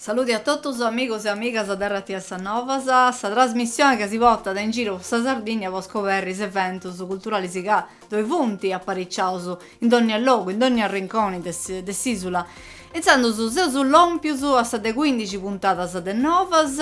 Saludi a totus is amigos e amigas de Ràdiu X, Novas, sa trasmissione ca si portat in giru po sa Sardìnnia po scoberri is eventus culturalis ca ddoi funt apariciaus in dònnia logu, in dònnia rinconi de s'ìsula. Intzandus seus lòmpius a sa de cuindixi puntadas de Novas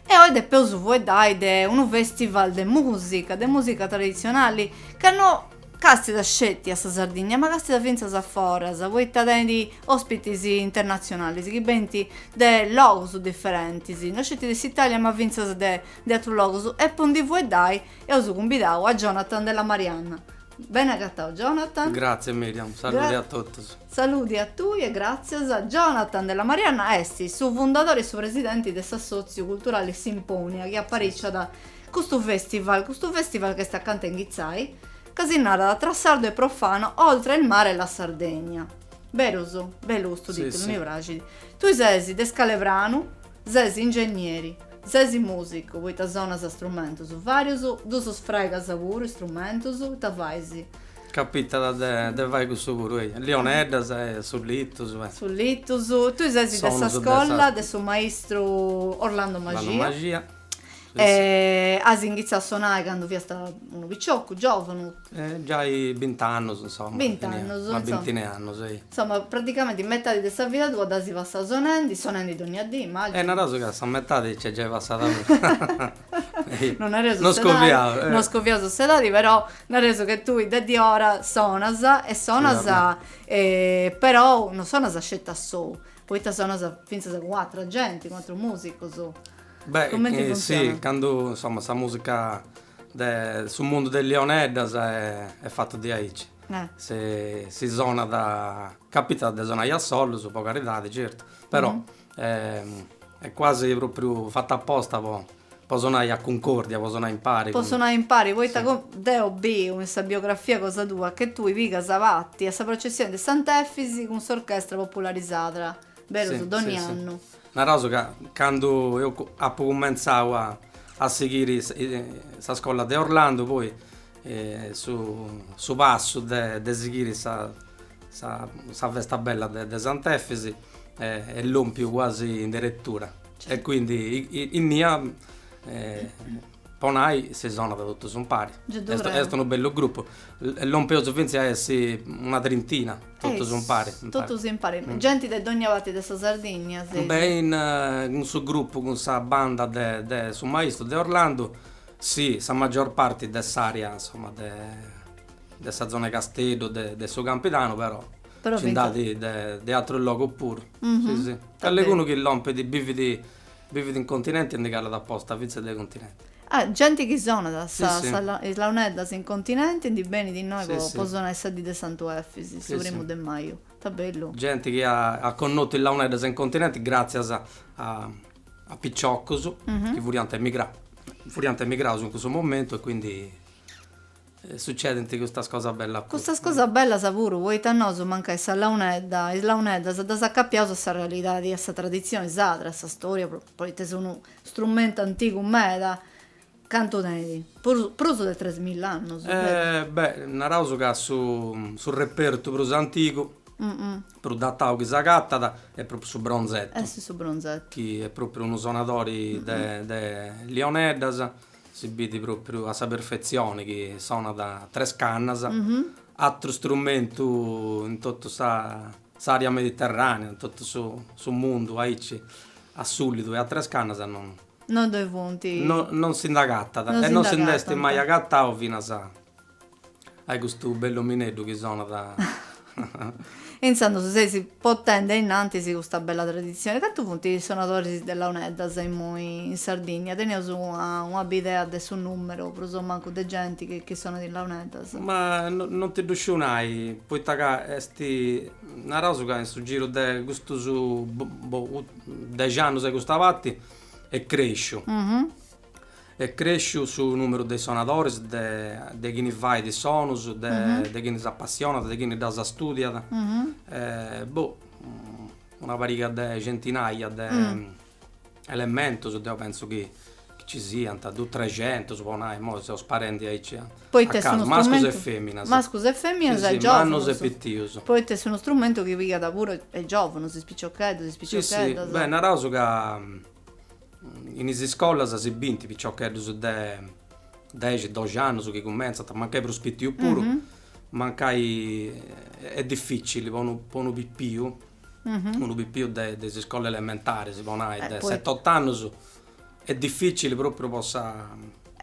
e oi depeus fueddai de unu fèstival de mùsica, de mùsica traditzionali ca no Càstida sceti a sa Sardigna ma càstida fintzas a foras, poita tenit òspitis internatzionalis chi benint de logus diferentis, no sceti de s'Itàlia ma fintzas de de atrus logus e po ndi fueddai eus cumbidau a Jonathan Della Marianna. Beni agatau Jonathan. Gratzias Miriam, saludi a totus. Saludi a tui e gràtzias. Jonathan Della Marianna est su fundadori e su presidenti de s'assòtziu culturali Simponia chi apariciat Custu festival, custu festival ch'est acanta 'e inghitzai, ca si narat Tra sardo e profano, oltre il mare e la Sardegna. Berus? Bellu custu titulu, mi praxit. Tui ses de Scalepranu, ses ingennieri, ses musicu poita sonas strumentus varius, ddus fràigas puru is strumentus, ita fais? Capitat de fai custu puru, eia, liuneddas e sullitus e. Sullitus. Tui ses de sa scolla de su maistru Orlando Maxia. E as inghitzau a sonai candu fiast unu picioccu, giovunu? Giai bint'annus, insoma. Bint'annus. Una bintina 'e annus, ehi. Insoma, praticamenti metadi de sa vida tua dd'asi passau sonendi, sonendi dogna dì, immaginu. E naraus ca sa metadi nc'est giai passada puru. Non nareus s'edadi. Non scoviaus, eh. Non scoviaus s'edadi, però nareus che tui de diora sonas e sonas, però non sonas sceti a sou, poita sonas fintzas cun atra genti, cun atrus musicus. Beh, cumenti funtzionat? Si, candu, insoma, sa musica de su mundu de is liuneddas est fatu diaici, si sonat, capitat de sonai a sollus, po caridadi, certu, però est quasi propriu fata aposta po sonai a cuncordia, po sonai impari. Po sonai impari, poita deu biu in sa biografia cosa tua che tui pigas parti a sa processioni de Sant'Efisi cun s'orchestra populari Sarda, berus, dogni annu. Naraus ca candu eus apu cumentzau a sighiri sa scolla de Orlando poi su passu de sighiri sa festa bella de Sant'Efis est lompiu cuasi in deretura e quindi innia po nai si sonat totus umparis. Est unu bellu grupu, lompeus fintzas a essi una trintina, totus umpari. Totus impari, genti de dogna parti de sa Sardigna. Beh, cun su grupu, cun sa banda de su maistu Orlandu, si, sa magior parti de s'aria, insoma, de sa zona de Casteddu, de su Campidanu, però nci nd'at de atrus logus puru. Callegunu chi lompit, bivit Bivit in continenti e ndi calat aposta fintzas dae continenti. Ah, genti chi sonat sa is launeddas in continenti ndi benit innoi po sonai sa dì de Sant'Efis, su primu de maju. Ita bellu! Genti chi at connotu is launeddas in continenti gràtzias a piciocus chi furiant emigraus, furiant emigraus in cussu momentu e quindi Sucedint custas cosas bellas puru. Custas cosas bellas puru, poita nosu mancai is launeddas, is launeddas ddas acapiaus a sa realidadi, a sa traditzioni sadra, a sa storia, poita est unu strumentu antigu meda, cantu tenit, prus prus de tres milla annus? Beh, naraus ca su repertu prus antigu, prus datau chi s'agatat, est propriu su bronzetu. Est su bronzetu. Chi est propriu unu sonadori de lioneddas Si biit propriu a sa perfetzioni chi sonat tres cannas, atru strumentu in totu sa s'aria mediterranea, in totu su mundu aici a sulidu e a tres cannas non Non ddoi funt. No non si nd'agatat e non si nd'est mai agatau finas a Ai custu bellu omineddu chi sonat. E intzandus seis portende innantis custa bella traditzione. Cantu funt is sonadoris de launeddas imui in Sardigna? Teneus una bidea de su numeru prus o mancu de genti chi sonat is launeddas? Ma non ti ddu sciu nai, poita ca est naraus ca in su giru de custus dexi annus a custa parti est cresciu. Est crèsciu su nùmeru de is sonadoris, de chini fait is sonus, de chini s'apassionat, de chini ddas istùdiat, boh, una pariga de centinaja de elementus deu pentzu chi nci siant, duus trexentus po nai, imoi seus sparendi aici a casu, mascus e feminas. Mascus e feminas e giovunus. Mannus e pitius. Poita est unu strumentu chi pigat puru is giovunus, is piciocheddus, is piciocheddas. Beh, naraus ca In is iscolas si biint piciocheddus de dexi, doxi annus chi cumentzant, mancai prus pitiu puru, mancai est dificili po unu po unu pipiu, unu pipiu de is iscolas elementaris po nai, de seti ot'annus, est dificili propriu po sa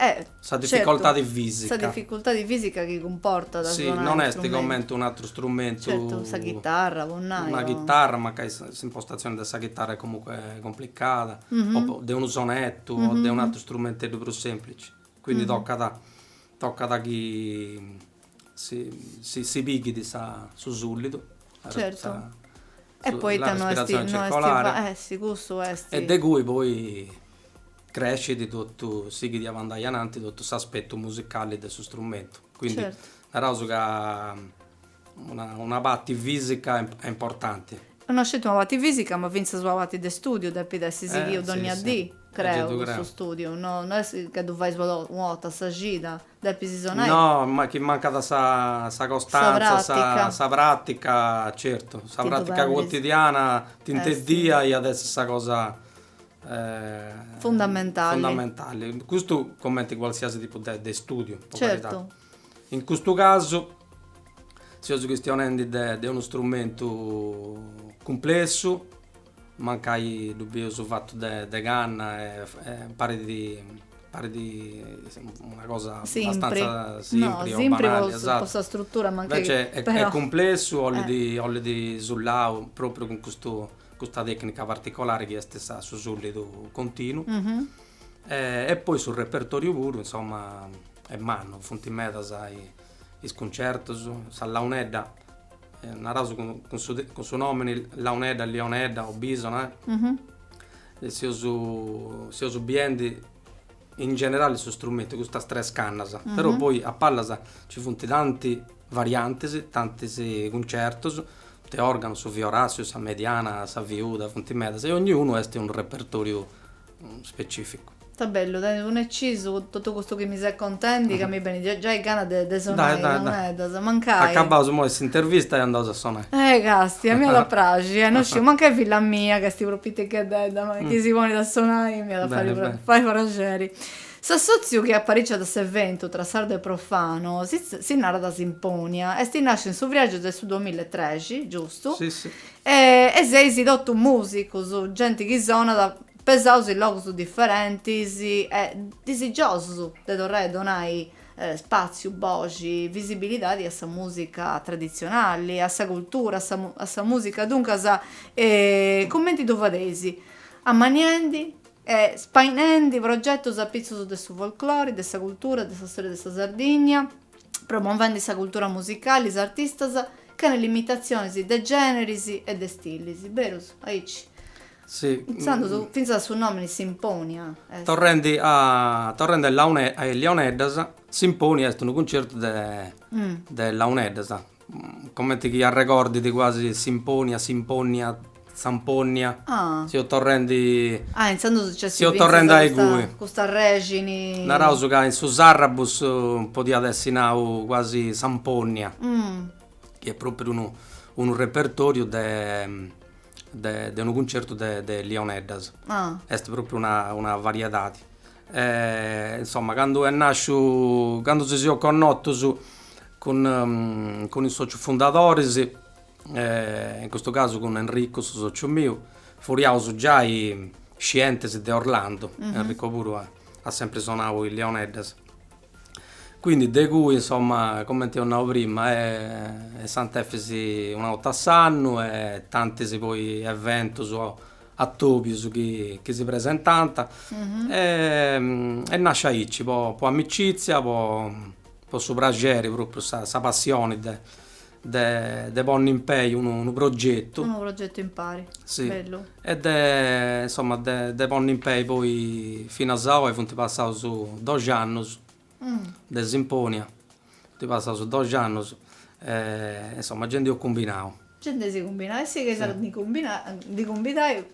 Eh, Sa dificoltadi certu, fisica. Sa dificultadi fisica chi cumportat si sonai. Si, non est comente un atru strumentu. Certu, sa ghitarra, po nai. Una chitarra, mancai s'impostatzione de sa chitarra est comunque complicada, o de unu sonettu, o de un atru strumenteddu prus semplici. Quindi tocat, tocat chi. si pighit su sullidu e poita no est e de cui poi crescit totu sighit a andai ananti totu s'aspetu musicali de su strumentu quindi naraus ca una parti fisica est importanti no sceti una parti fisica ma finzas una parti de studiu depit essi sighiu donnia dì creu cussu studiu no est ca ddu fais po domo una 'orta a sa cida Depis sonai. No, ma chi mancat sa sa costanza, sa pratica. Sa pratica, certu, sa pratica quotidiana diciamo iat essi sa cosa fundamentale. Fundamentali. Custu cumenti qualsiasi tipu de de studiu, po caridadi. Certu. In custu casu seus chistionendi de de unu strumentu cumplessu. Mancai ddu bius fatu de canna parit una cosa abbastanza simpri o banali, invece est cumplessu, 'ollit sulau propriu cun custa tecnica particolari chi est su sullidu continu e poi su repertoriu puru insomma est mannu, funt medas is is cuncertus, sa launedda, naraus cun su nomini launedda, lionedda o bisona, seus biendi in generali su strumentu, custas tres cannas, però poi a pallas nci funt tanti variantis, tantis cuncertus, punt'e organu, su fiorassiu, sa mediana, sa fiuda, funt medas e 'onniunu tenit unu repertoriu specificu. Ita bellu, tenit unu ecisu totu custu chi mi ses contendi ca mi benit giai gana de sonai is launeddas, mancai. Acabaus imoi s'intervista e andaus a sonai. Eh castia, a mei iat a praxi, non sciu, mancai filla mia ca est prus piticheddedda ma chi si ponit a sonai m'iat a fai praxeri. S'assotziu chi apariciat s'eventu tra sardu e profanu, si narat Simponia, est nasciu in su friagiu de su duamilla e trexi, giustu? E e seis totus musicus, genti chi sonat, pesaus in logus diferentis e disigiosus de torrai a donai spaziu, boxi, visibilidadi a sa musica tradizionali, a sa cultura, a sa a sa musica, duncas cumenti ddu fadeis, ammaniendi e spainendi progetus apitzus de su folklori, de sa cultura, de sa storia de sa Sardigna promovendi sa cultura musicali, is artistas, chene limitatzionis de gèneris e de stilis. Berus, aici, intzandus, fintzas su nòmini Simponia est. Torrendi a, torrendi a is Leoneddas, Simponia est unu cuncertu de, de Launeddas. Comenti chi arregordit quasi Simponia, Simponnia, Samponnia, Ah. Seus torrendi. Ah, intzandus nc'est fintzas. Seus torrendi a igue. Custa rexini. Naraus ca in su Sàrrabus podiat essi nau quasi Samponnia. Chi est propriu unu unu repertoriu de de de unu cuncertu de de Lioneddas. Ah. Est propriu una una variedadi. E insomma candu est nàsciu, candu si seus connotus cun cun is socius fundadoris, in custu casu cun Enricu su sociu miu, furiaus giai scientis de Orlando, Enrico puru at sempri sonau is Leoneddas, quindi de cui insomma cumenti eus nau prima Sant'Efisi una 'orta a s'annu e tantis poi eventus atòbios chi si presentant e nascit aici po amicìtzia po su praxeri pròpriu sa passioni de ponni in pei unu progetu unu progetu impari bellu e de insomma de ponni in pei poi finas a oi funt passaus doxi annus de Simponia, funt passaus doxi annus e insoma genti eus cumbinau. Genti si cumbinat e sigheis a ndi ndi cumbidai,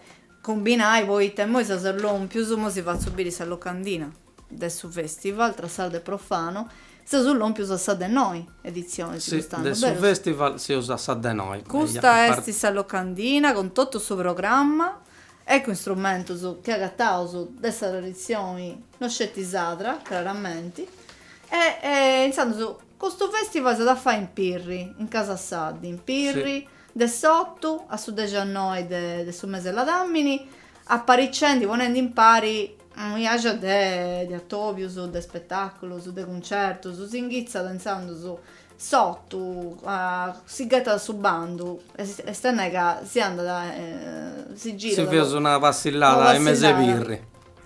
cumbinai poita imoi seus lompius, imoi si fatzu biri sa locandina de su festival tra sardu e profanu, seus lompius a sa de noi editzionis custu annu, berus? Si, de su festival seus a sa de noi. Custa est sa locandina cun totu su programma Ecco instrumentus chi agataus de sa traditzioni, no sceti sadra, craramenti, e intzandus custu fèstival s'at a fai in Pirri, in Casa Saddi, in Pirri, de s'otu a su dexannoi de su mese 'e Ladàmini, apariciendi, ponendi impari unu biaxi de atobius, de spetàculus, de cuncertus, si inghitzat intzandus S'otu, a, si ghetat su bandu, est, est a nai ca si andat, si girat. Si, feus una passillada in mes'e Pirri.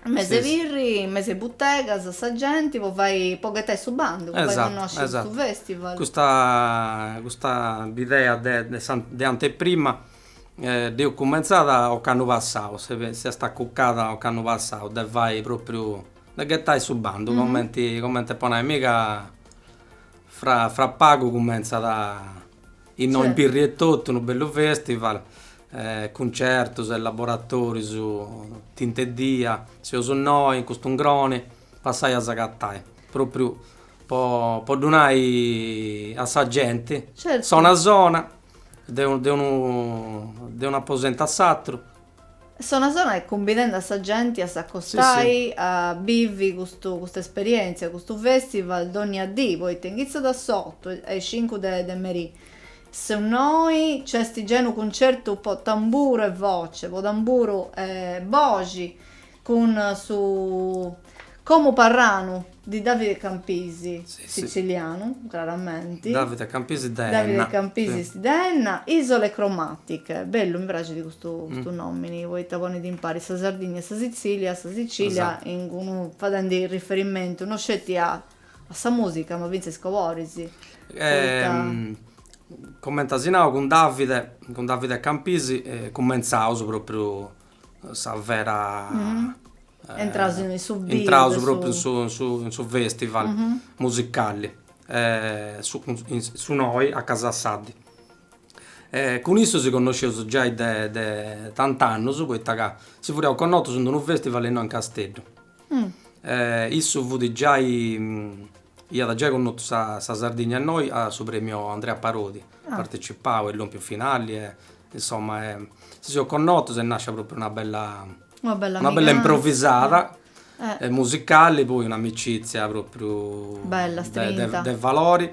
In mes'e Pirri, in mes'e butegas, sa genti po fai, po ghetai su bandu, po fai connosci su festival. Custa, custa bidea de, de sa, de anteprima dd'eus cumentzada ocannu passau, si, si est acuccada ocannu passau, de fai propriu, de ghetai su bandu, comenti, comenti po nai, mi ca Fra fra pagu cumentzat innoi in Pirri etotu unu bellu festival, cuncertus e laboratorius tinta 'e dia, seus noi in custu 'ngroni, passai a s'agatai, propriu po po ddu nai a sa genti, sa una zona, de unu de unu de un'aposent'e s'atru Est una zona chi cumbidendi a sa genti a s'acostai a bivi custu custa esperièntzia, custu fèstival dònnia dì, poita inghitzat a s'otu a is cincu de de merì, su noi nc'est unu cuncertu po tamburu e voce, po tamburu e boxi, Cun su Comu Parranu di Davide Campisi, sitzilianu, craramenti. Davide Campisi de Enna. Davide Campisi de Enna. Isole cromatiche. Bellu, mi praxit custu nomini, poita ponit impari sa Sardigna e sa Sitzilia, sa Sicilia, in d'unu, fadendi riferimentu no sceti a sa musica, ma fintzas a is coloris. Comenti as nau, cun Davide, cun Davide Campisi, cumentzaus propriu sa vera Intraus in su biu Intraus propriu in su in su in su festival musicali su su noi a Casa Saddi cun issu si connosceus giai de de tant'annus poita ca si furriaus connotus in d'unu festival innoi in Casteddu issu fut giai iat giai connotu sa sa Sardigna innoi a su premiu Andrea Parodi partecipau e lompiu finali e Insomma si seus connotus est nàscia pròpriu una bella una bella una bella improvisada musicali poi un'amicitzia pròpriu bella istretta de valori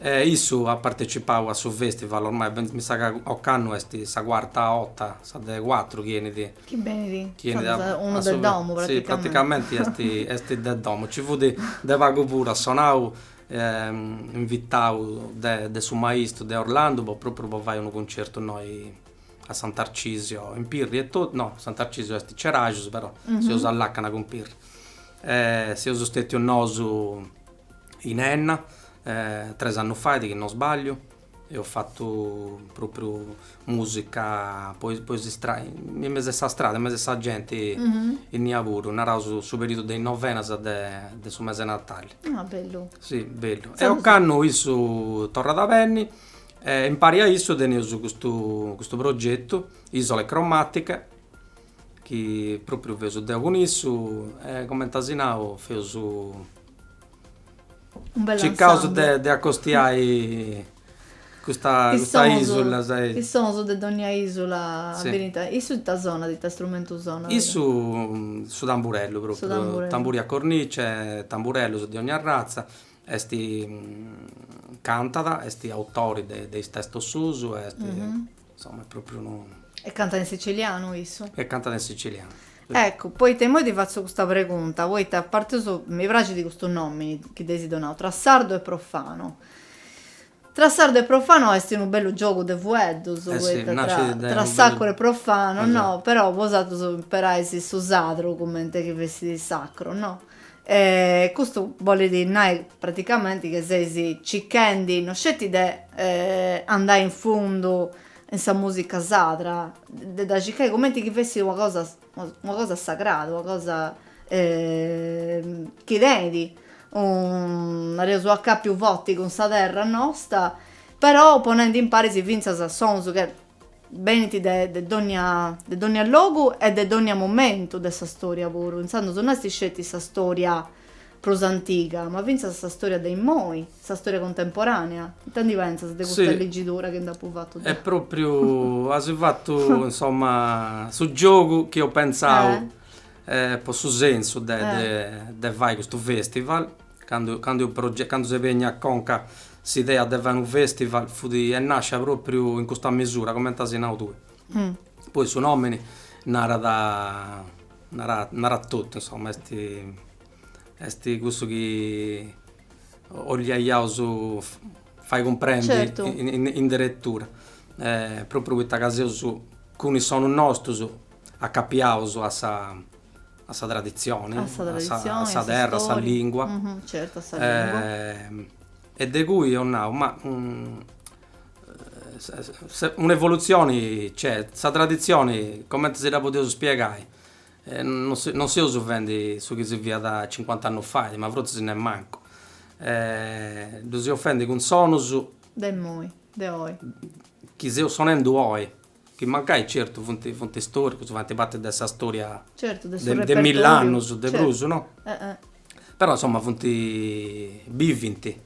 e issu at partecipau a su festival ormai beni mi sa chi ocannu est sa cuarta 'orta sa de cuatru chi 'enit chi benit chi 'enit unu de domu praticamenti si praticamenti est est de domu nci fut de pagu puru at sonau invitau de su maistu de Orlandu po propriu po fai unu concertu innoi a San Tarcisio in Pirri etotu, no San Tarcisio est Ceraxus però seus a làcana cun Pirri e seus stetius nosu in Enna tres annus fait chi no sbagliu Eus fatu propriu musica po po is istradas, in mesu a sa strada, in mesu a sa genti innia puru, naraus su periudu de is novenas de de su mese 'e natali. Ah bellu. Si bellu. E ocannu issu torrat a benni e impari a issu teneus custu custu progetu, Isole Cromatiche, chi propriu feus deu cun issu e cumenti as nau feus Un bellu ensemble. Circaus de, de acostiai custa, custa isula, si. Is sonus de dogna isula si. Benint, issu ita sonat, ita strumentu sonat? Issu su tamburellu propriu. Su tamburellu. Tamburi a cornice, tamburellus de ogni arratza, est, cantat, est autori de, de is testus suus, est. Insomma est propriu unu. E cantat in sicilianu issu? E cantat in sicilianu. Eccu, poita immoi ti fatzu custa pregunta, poita a parti chi mi praxit custu nomini chi dd'eis donau, Tra sardu e profanu. Tra sardu e profanu est unu bellu giogu de fueddus, poita tra tra sacru e profanu, no, però bosatrus imperais su sadru cumenti chi fessit sacru, no. E custu bolit nai praticamenti che seis cichendi no sceti de andai in fundu in sa musica sarda, de dda cicai cumenti chi fessit una cosa una cosa sagrada, una cosa chi tenit unu nareus u' accapiu forti cun sa terra nosta, però ponendi impari finzas sonus chi Benint de de dònnia de dònnia logu e de dònnia momentu de sa stòria puru, intzandus no est sceti sa stòria prus antiga, ma fintzas sa stòria de immoi, sa stòria cuntemporànea. Ita ndi pentzas de custa ligidura chi nd'apu fatu deu? E pròpriu as fatu, insoma, su giogu chi eus pentzau po su sensu de de fai custu festival Candu candu eus proge candu s'est benia a conca s'idea de fai unu festival fut nascia propriu in custa mesura comente as nau tue. Poi su nomini narat narat narat totu insomma est est cussu chi 'oliaiaus fai cumprendi in deretura propriu poita ca seus cun is sonus nostus acapiaus a sa a sa traditzione, a sa terra, a sa lìngua, e de cui eus nau, ma un'evolutzioni nc'est, sa traditzioni cumenti si dda podiaus spiegai, non seus fendi su chi si fiat cincuant'annus fait, ma frotzis nemmancu, ddu seus fendi cun sonus de imoi, de oi, chi seus sonendu oi Chi mancai, certu, funt, funt istoricus, faint parti de sa storia de mill'annus, de prus, no? Però, insoma, funt, bivint,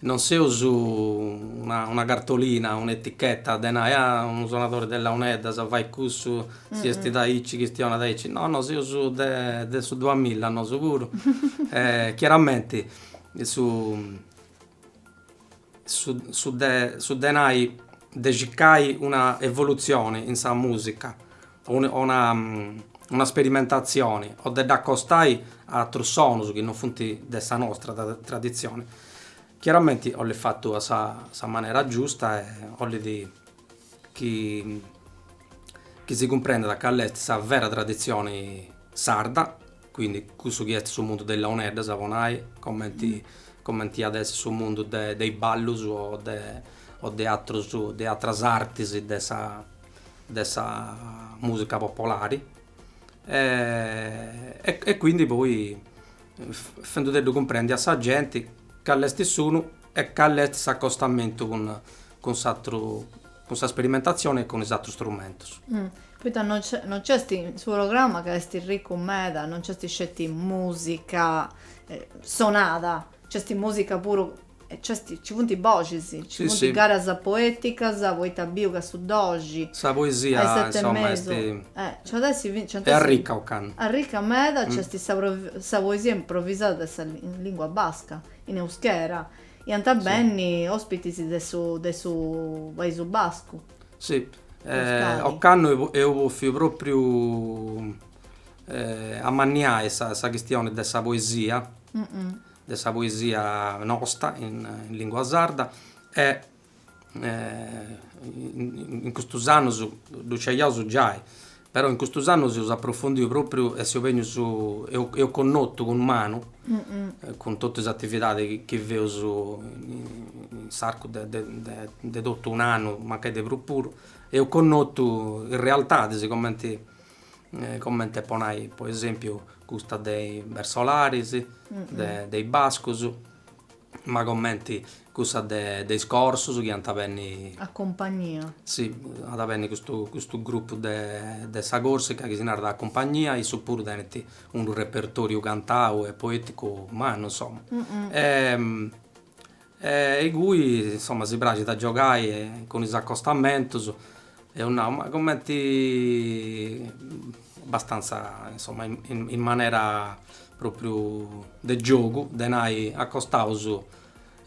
non seus una cartolina, un'etichetta de nai, ah, unu sonadori de launeddas fait cussu, si bestit aici chistionat aici, no, no, seus de su duamilla nosu puru e chiaramenti su su de nai, de circai una evolutzioni in sa musica o una sperimentatzioni o de dd'accostai a atrus sonus chi non funt de sa nostra traditzioni, chiaramenti 'olit fatu a sa manera giusta e 'olit chi si cumprendat cali est sa vera traditzioni sarda Quindi cussu chi est su mundu de is launeddas, po nai, comenti comenti at essi su mundu de de is ballus o de o de atrus de atras artis de sa de sa musica popolari e quindi poi fendudeddu cumprendi a sa genti cali est s'unu e cali est s'accostamentu cun cun s'atru cun sa sperimentatzioni e cun is atrus strumentus. Poita no no nc'est, su programma ca est ricu meda, no nc'est sceti musica sonada, nc'est musica puru, nc'est, nci funt is boxis, nci funt garas poeticas, poita biu ca su doxi, sa poesia insoma est, est arricca ocannu, arricca meda, nc'est sa poesia improvisada de sa lingua basca, in euskera, Ant a benni ospitis de su de su Paisu Bascu. Sì. Ocannu eus bòfiu propriu amanniai sa sa chistioni de sa poesia, de sa poesia nosta in lingua sarda e in custus annus ddu sciaus giai, però in custus annus eus aprofundiu propriu e seus bennius, eus connotu cun manu, cun totu is atividadis chi feus in s'arcu de de de totu un'annu, mancai de prus puru, eus connotu is realtadis cumenti cumenti po nai po esempiu custa de is bertsolaris, de is bascus ma comenti cussa de de is corsus chi ant a benni. A Cumpagnia. Sì, at a benni custu custu grupu de de sa Corsica chi si narat A Cumpagnia, issus puru tenint unu repertoriu cantau e poeticu mannu insomma. E e ingui insomma si praxit a giogai cun is accostamentus Eus nau, ma cumenti abastanza insomma in manera propriu de giogu, de nai, acostaus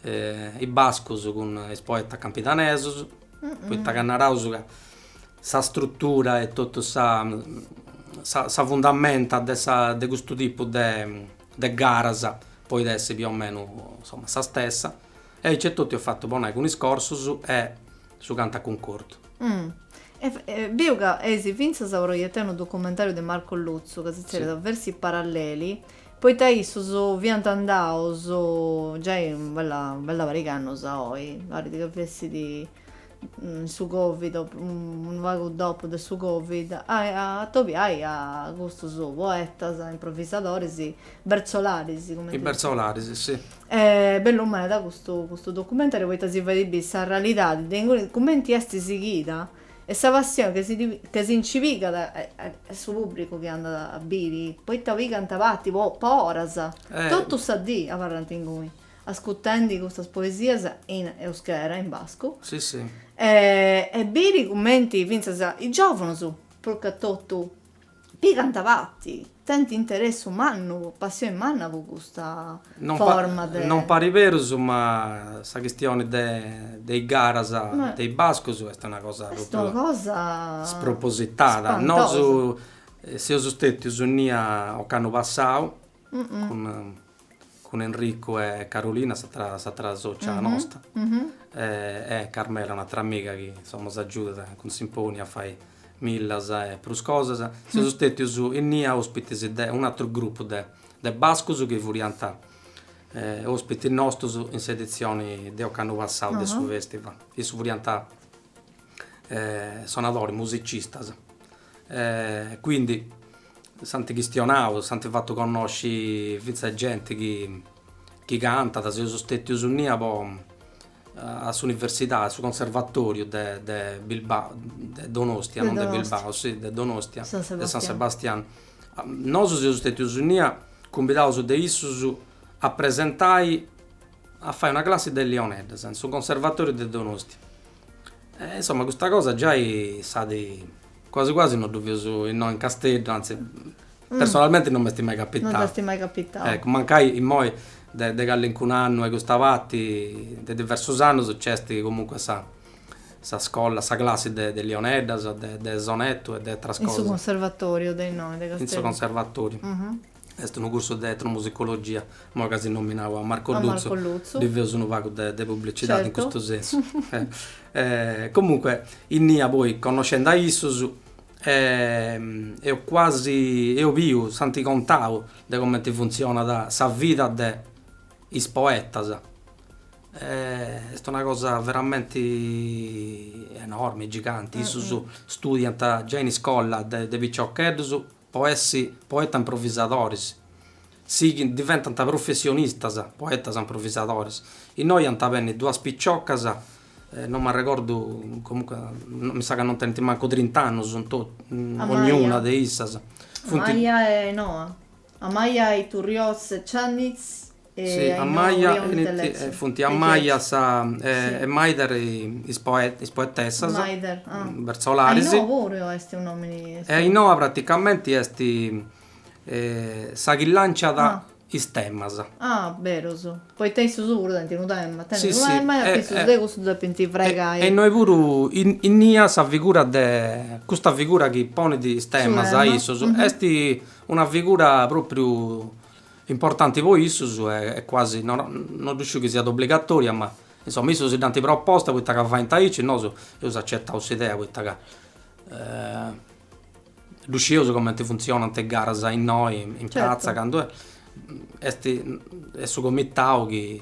is bascus cun is poetas campidanesus, poita ca naraus ca sa strutura e totu sa sa fundamenta de sa de custu tipu de de garas podit essi più o meno sa stessa e aici e totu eus fatu po nai cun is corsus e Su cantu a cuncordu. E biu ca eis fintzas proietai unu documentariu de Marco Luzzu ca si tzerriat Versi paralleli, poita issus fiant andaus giai u' bella u' bella pariga annus a oi, parit ca fessit in su Covid o unu pagu dopu de su Covid, a atobiai a custus poetas, improvvisadoris, bertsolaris cumenti. Is bertsolaris, si. Est bellu meda custu custu documentariu poita si fait biri sa realidadi de inguni cumenti est sighida e sa passioni che si ddi che si nci pigat a a su pubbricu chi andat a biri poita pigant parti po po oras totu sa dì abarrant inguni ascutendi custas poesias in euskera in bascu e biri cumenti fintzas is giovunus prus che totu Pigant parti, tent interessu mannu, passioni manna po custa forma de. Non parit berus ma sa chistioni de is garas de is bascus est una cosa propriu spropositada. Nosu seus stètius innia ocannu passau cun cun Enricu e Carolina s'atra s'atra sòcia nosta e Carmela un'atra amiga chi insomma nos agiudat cun Symponia a fai millas e prus cosas. Seus stètius innia òspitis de un'atru grupu de de bascus chi furiant òspitis nostus in s'editzioni de ocannu passau de su festival. Issus furiant sonadoris, musicistas E quindi s'ant chistionau, s'ant fatu connosci fintzas genti chi chi cantat, seus stètius innia po a s'universidadi, a su conservatoriu de de Bilb, de Donostia, non de Bilbao, si, de Donostia, de San Sebastianu. Nosu seus stètius innia cumbidaus de issus a presentai, a fai una classi de liuneddas in su conservatoriu de Donostia E insomma custa cosa giai s'at quasi quasi no ddu feus innoi in Casteddu, anzi personalmenti non m'est mai capitau. Non t'est mai capitau. Eccu, mancai immoi de de callincun'annu a custa parti, de diversus annus, nc'est comunque sa sa scola, sa classi de de liuneddas, de de sonettu e de atras cosas. In su conservatoriu de innoi, de Casteddu. In su conservatoriu. Est unu cursu de etnomusicologia, imoi ca as nominau a Marco Luzzu. A Marco Luzzu. Ddi feus unu pagu de publicidadi. Certu. In custu sensu. Comunque, innia poi connoscendi a issus, eus quasi, eus biu, s'ant contau de comenti funtzionat sa vida de is poetas. Est una cosa veramenti enormi, giganti. Issus studiant giai in iscola de de piciocheddus po essi poetas-improvisadoris, sighint, diventant professionistas, poetas-improvisadoris. Innoi ant a benni duas piciocas, no m'arregordu, comunque, mi sa ca non tenint mancu trint'annus in totu, ognuna de issas. Funt. Amaia e Noa. Amaia Iturrioz e Ciannitz. Si, a maja enit, funt Amaia e Maider is poetessas, bertsolaris. Ainhoa puru est unu nomini. E Ainhoa praticamenti est sa chi lanciat is temas. Ah, berus, poita issus puru tenint unu tema, tenint unu tema e a chissus de cussus depint fregai. E innoi puru innia sa figura de, custa figura chi ponit is temas a issus est una figura propriu Importanti po issus e quasi, no ddu sciu chi siat obligatòria, ma insoma issus si dd'ant proposta poita ca faint aici, nosu eus acetau s'idea poita ca ddu scieus cumenti funtzionant is garas innoi in pratza candu est est su comitau chi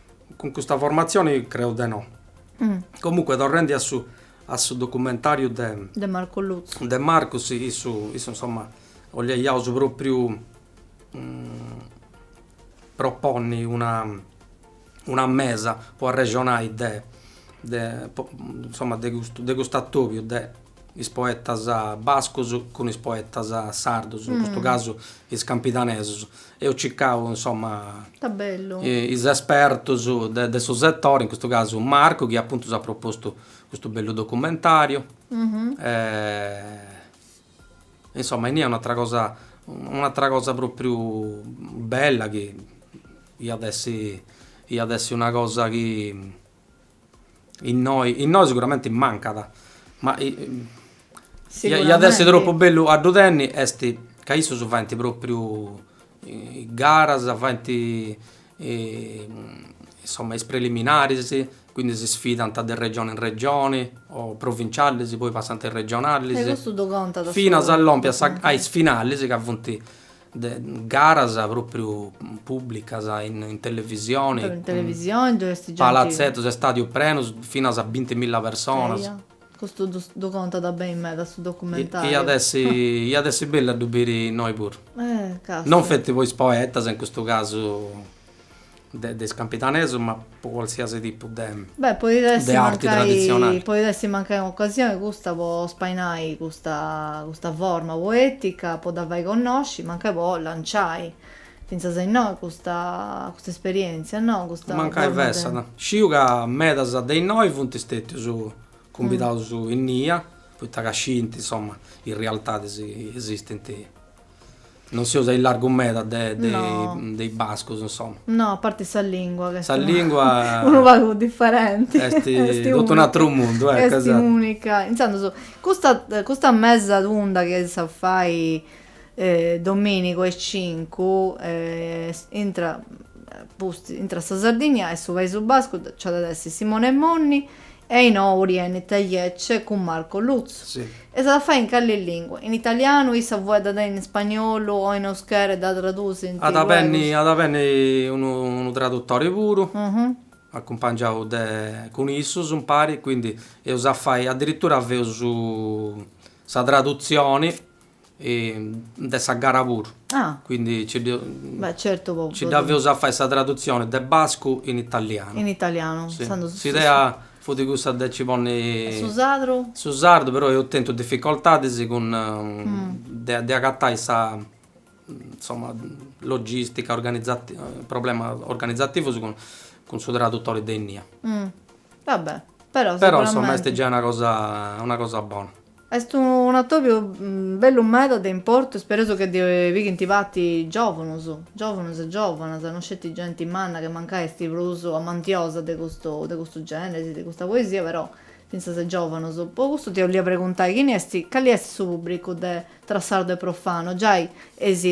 Cun custa formatzioni creu de no. Comunque torrendi a su a su documentariu de de Marco Lutzu de Marco si issu issu insomma 'oliaiaus propriu proponni una una mesa po arrexonai de de po insomma de custu de cust'atobiu de is poetas bascus cun is poetas sardus, in custu casu is campidanesus. Eus circau, insoma, is espertus de su setori, in custu casu Marcu, chi apuntu s'at propostu custu bellu documentariu. Insoma, inie un'atra cosa, un'atra cosa propriu bella chi iat essi, iat essi una cosa chi Innoi, innoi siguramenti mancat, ma iat essi tropu bellu a ddu tenni, est ca issus faint propriu garas, faint insoma is preliminaris, quindi si sfidant de regioni in regioni, o provincialis poi passant a is regionalis, finas a lompi a is finalis ca funt garas pròpriu pùblicas in in televisioni, in televisioni ddu est genti palatzetus, estadius prenus finas a binti milla personas, eia, custu ddu ddu contat beni meda su documentariu, iat essi iat essi bellu a ddu biri innoi puru, eh caspita, non feti po is poetas in custu casu de is campidanesus ma po qualsiasi tipu de Beh, podit essi mancai, arti traditzionali. Podit essi mancai un'ocasioni custa po spainai custa custa forma poetica, po dda fai connosci, mancai po lanciai fintzas a innoi custa custa esperientzia, no, custa forma de. Mancai fessat. Sciu ca medas de innoi funt stetius cumbidaus innia, poita ca sciint, insoma, is rialtadis chi esistint. Non seus aillargu meda de de is bascus insoma. No, a parti sa lingua ca est. Sa lingua. Unu pagu diferenti. Est totu un'aturu mundu, eccu, esattu. Est unica. Intzandus, custa custa mesa tunda chi eis a fai dominigu a is cincu, intra apustis, intra sa Sardinnia e su Paisu Bascu nc'at a essi Simone Monni, Ainhoa Urien Telletxe cun Marco Lutzu. Si. E s'at a fai in cali lingua? In italianu, issa fueddat in ispagnolu o in euskera e dda tradusint At a benni, luegus? at a benni unu unu tradutori puru, acumpangiau de cun issus impari, quindi eus a fai, addirittura feus su sa traduzioni de sa gara puru, quindi nci dda feus a fai sa tradutzioni de bascu in italianu. In italianu. S'idea fut cussa de nci ponni su sardu, su sardu però eus tentu difficoltadis cun de agatai sa, insoma, logistica, organizati, problemas organizativus cun su tradutori de innia. Va bè, però sicuramente. Però insoma est giai una cosa, una cosa bona. Est un atobiu bellu meda de importu, spereus chi ddoi pighint parti giòvunus, giòvunus e giòvanas, no sceti genti manna che mancai est prus amantiosa de custu de custu gèneri, de custa poesia, però fintzas giòvanus. Po cussu ti 'ollia preguntai chini est calli est su pubbricu de Tra sardu e profanu, giai eis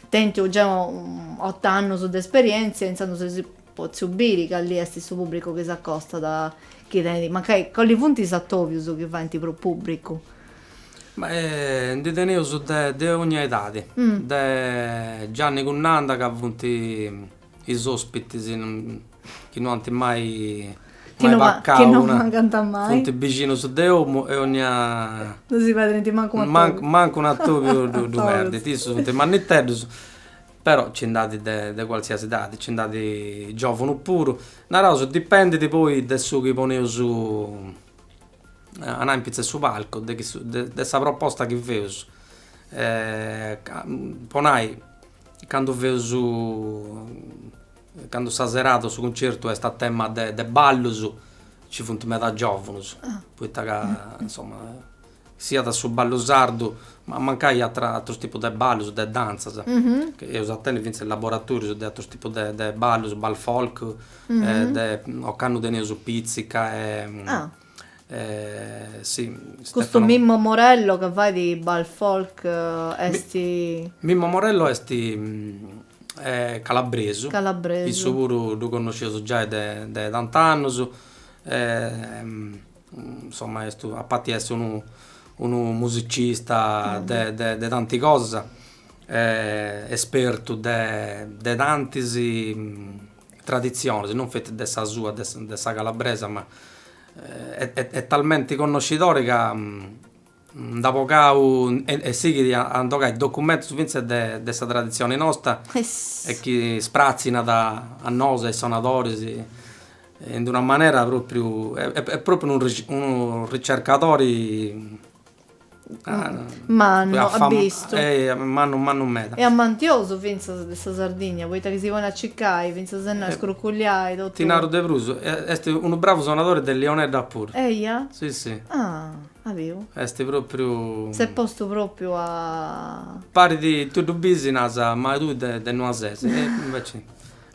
Tentu già ot'annus de esperièntzia, intzandus eus potziu biri calli est su pùbricu chi s'acostat a chi tenit, mancai calli funt is atòbius chi faint prus pùbricu? Ma ndi teneus de de ogna edadi, de Gianni cun Nanda ca funt Is òspitis chi no ant mai mancau funt bixinus de omu e onnia. Non si perdint mancu un'atòbiu. Mancu un'atòbiu ddu perdint. Issus funt manniteddus, però nci nd'at de qualsiasi edadi, nci nd'at giòvunus puru. Naraus, dipendit poi de su chi poneus a nai in pitzus 'e su palcu, de sa proposta chi feus. Po nai Candu feus, candu sa serada, su cuncertu est a tema de de ballus, nci funt meda giovunus, poita ca insoma siat su ballu sardu, ma mancai atra atrus tipus de ballus, de dantzas, eus a tenni fintzas is laboratorius de atrus tipus de de ballus, bal folk, de ocannu teneus pìtzica e Custu Mimmo Morello ca fait bal folk est. Mimmo Morello est calabresu, issu puru ddu connosciaus giai de tant'annus, insoma est a parti essi unu musicista de tanti cosas, espertu de tantis traditzionis, non feti de sa sua, de sa calabresa, ma est talmenti connoscidori ca nd'at bogau e sighit a ndi 'ogai documentus fintzas de sa traditzioni nosta e chi spratzinat a nosu e a is sonadoris in d'una manera pròpriu, est pròpriu unu ricercadori mannu a bistu e mannu mannu meda e ammantiosu finzas de sa Sardigna poita chi si ponit a cicai finzas a nai scruculiai totu Ti naru de prus est unu bravu sonadori de launeddas puru eia si si ah a biu est propriu s'est postu propriu a parti tui ddu bisi nas mai tui de de Nuasesi e inveci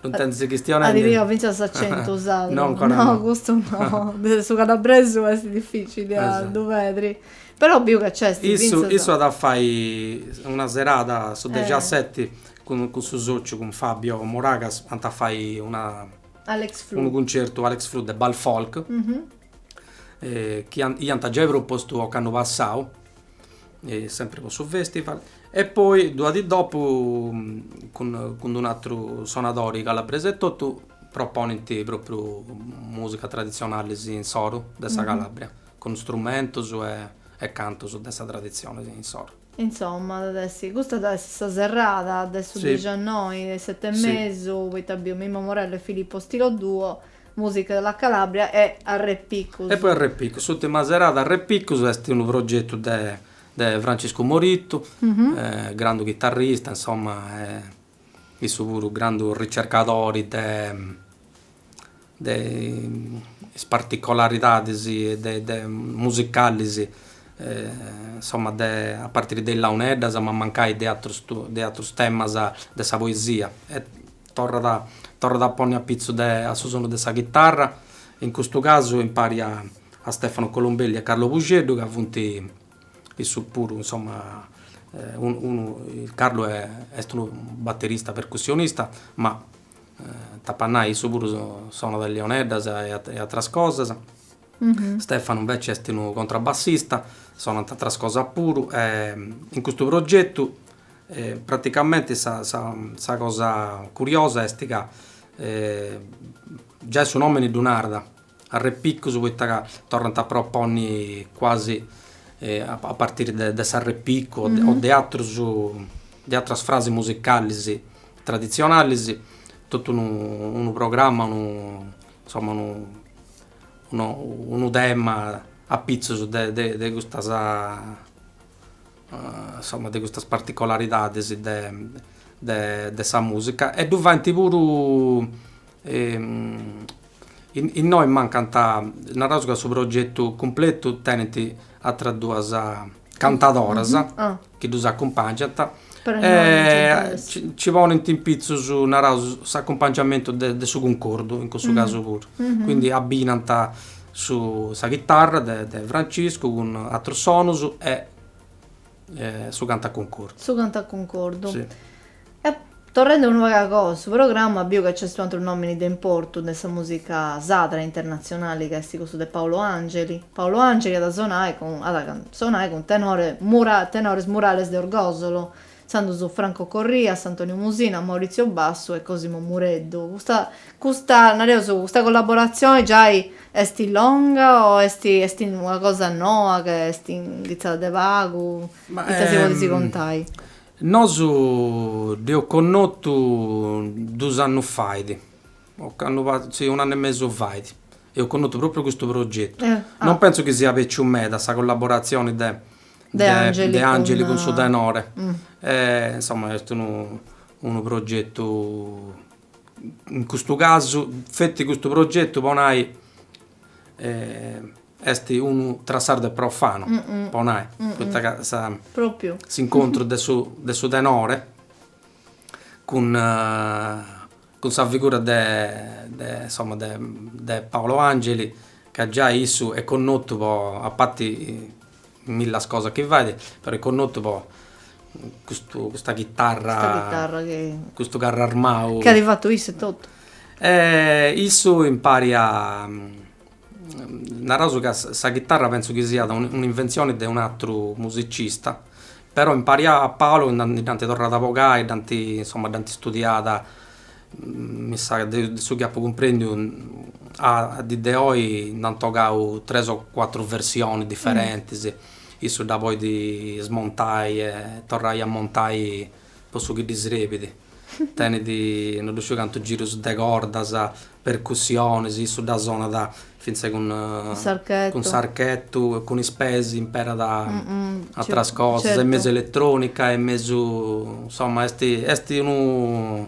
No ddu intendis chistionendi? At a tenni fintzas s'acentu sardu. No, ancora no. No, custu no. Su calabresu est dificili a ddu perdi. Però biu ca nc'est fintzas. Issu at a fai una serada su dexiaseti cun su sociu, cun Fabio Moragas, ant a fai una Alex Flu. Unu cuncertu Alex Flu de Bal Folk, chi iant giai propostu occannu passau sempri po su festival e poi dua di dopu cun cun un atru sonadori calabresu e totu proponint propriu musicas tradizionalis insoru de sa Calabria cun strumentus e cantus de is tradizionis insoru. Insomma at essi custa at essi sa serada de su dixannoi de setembri poita biu Mimmo Morello e Filippo Stilo Duo Musica della Calabria e Arrepicus. E poi Arrepicus, s'ultima serada Arrepicus est unu progetu de de Franciscu Morittu, grandu chitarrista, insomma, issu puru grandu ricercadori de de is particolaridadis de de musicalis, insomma, de a partiri de is launeddas ma mancai de atrus de atrus temas de sa poesia Torrat torrat a ponni a pitzu de a su sonu de sa chitarra, in custu casu impari a a Stefano Colombelli a Carlo Puxeddu ca funt issus puru insoma unu unu Carlo est unu baterista percussionista ma t'apu a nai issu puru sonat leoneddas e atras cosas. Stefano inveci est unu contrabbassista, sonant atras cosas puru e in custu progetu Praticamenti sa sa cosa curiosa est ca giai su nomini ddu narat, arrepicus poita ca torrant a proponni quasi a partiri de de s'arrepicu o de atras de atras frasis musicalis traditzionalis, totu unu unu programma, unu insoma unu unu tema apitzus de de de custas insomma de custas particolaridades de sa musica e ddu fait puru innoi mancant naraus ca su progetu cumpletu tenit atras duas cantadoras chi ddus acumpangiant e ci ponint in pitzus naraus s'acumpangiamentu de su cuncordu in cussu casu puru quindi abbinant Su sa chitarra de de Franciscu cun atrus sonus e su cantu a cuncordu. Su cantu a cuncordu. Si. E torrendi unu pagu a goa a su programma biu ca nc'est unu atru nomini de importu de sa musica sadra internazionali ca est cussu de Paolo Angeli. Paolo Angeli at sonai cun at sonai cun tenore mura tenores Murales de Orgosolo Intzandus Franco Corrias, Antonio Musina, Maurizio Bassu e Cosimo Mureddu. Custa, custa, nareus, custa collaboratzioni giai est longa o est, est una cosa noa ca est inghitzada de pagu? Ma, Ita si podis contai? Nosu dd'eus connotu dus annus fait, o candu pa, si, un'annu e mesu fait, eus connotu propriu custu progetu. Non pentzu chi siat bèciu meda sa collaboratzioni de De Angeli De Angeli cun su tenore e insomma est unu unu progetu in custu casu feti custu progetu po nai est unu tra sacru e profanu po nai poita ca sa Propriu s'incontru de su de su tenore cun cun sa figura de de insomma de de Paolo Angeli ca giai issu est connotu po a parti milla cosas chi fait però est connotu po custu custa chitarra Custa chitarra chi custu carru armau chi at fatu issu e totu e issu impari a Naraus ca sa chitarra pentzu chi siat un'inventzioni de un'atru musicista, però in pari a Paolo dd'ant torrada a bogai, dd'ant insoma dd'ant studiada, mi sa ca de su chi apu cumprendiu a dì de oi nd'ant bogau tres o cuatru versionis diferentis, issu dda podit smontai e torrai a montai po su chi ddi srebit, tenit no ddu sciu cantu girus de cordas, percussionis, issu dda sonat fintzas cun cun s'archetu e cun is peis imperat ateras cosas, est mesu eletronica, est mesu, insoma, est est unu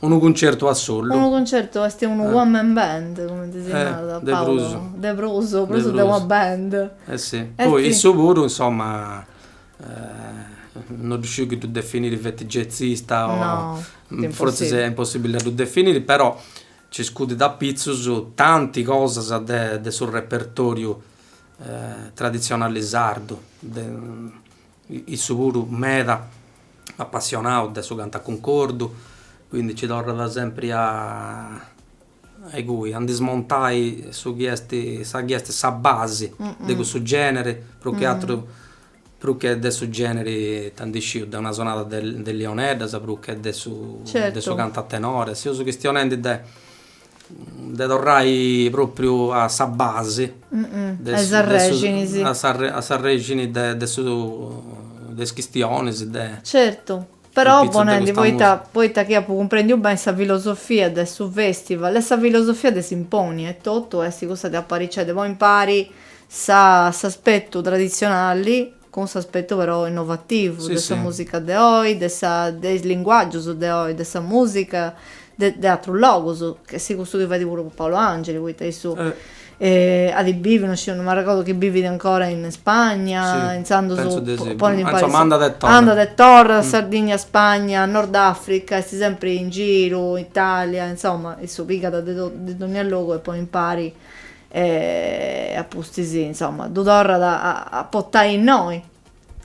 unu cuncertu a solu. Unu cuncertu, est unu one man band, cumenti si narat, de prus, de prus, prus de una band. Eh si, poi issu puru, insoma, No ddu sciu chi ddu definiri feti jazzista o. No, est impossibili. Forzis est impossibili a ddu definiri, però nci scudit apitzus tanti cosas de de su repertoriu traditzionali sardu. De issu puru meda apassionau de su cantu a cuncordu, quindi nci torrat sempri a a icui a ndi smontai su chi est, sa chi est sa basi de cussu generi, prus che atru prus che de su generi ita ndi sciu de una sonada de de launeddas prus che de su de su cantu a tenore, seus chistionendi de de torrai propriu a sa basi de su a s'arrexini de de su de is chistionis de Però ponendi poita poita chi apu cumprendiu beni sa filosofia de su festival est sa filosofia de Simponi etotu est cussa de apariciai de ponni impari sa s'aspetu traditzionali cun s'aspetu però innovativu de sa musica de oi de sa de is linguaggius de oi de sa musica de atrus logus, ch'est custu chi fait puru Paolo Angeli, poita issu at biviu, no sciu, no m'arregordu chi bivit ancora in Spagna, intzandus pensu de si, insoma andat e torrat, andat e torrat, Sardigna, Spagna, Nordafrica, est sempri in giru, Italia, insoma, issu pigat de totu, de dogna logu e ponit impari e a pustis, insoma, ddu torrat a portai innoi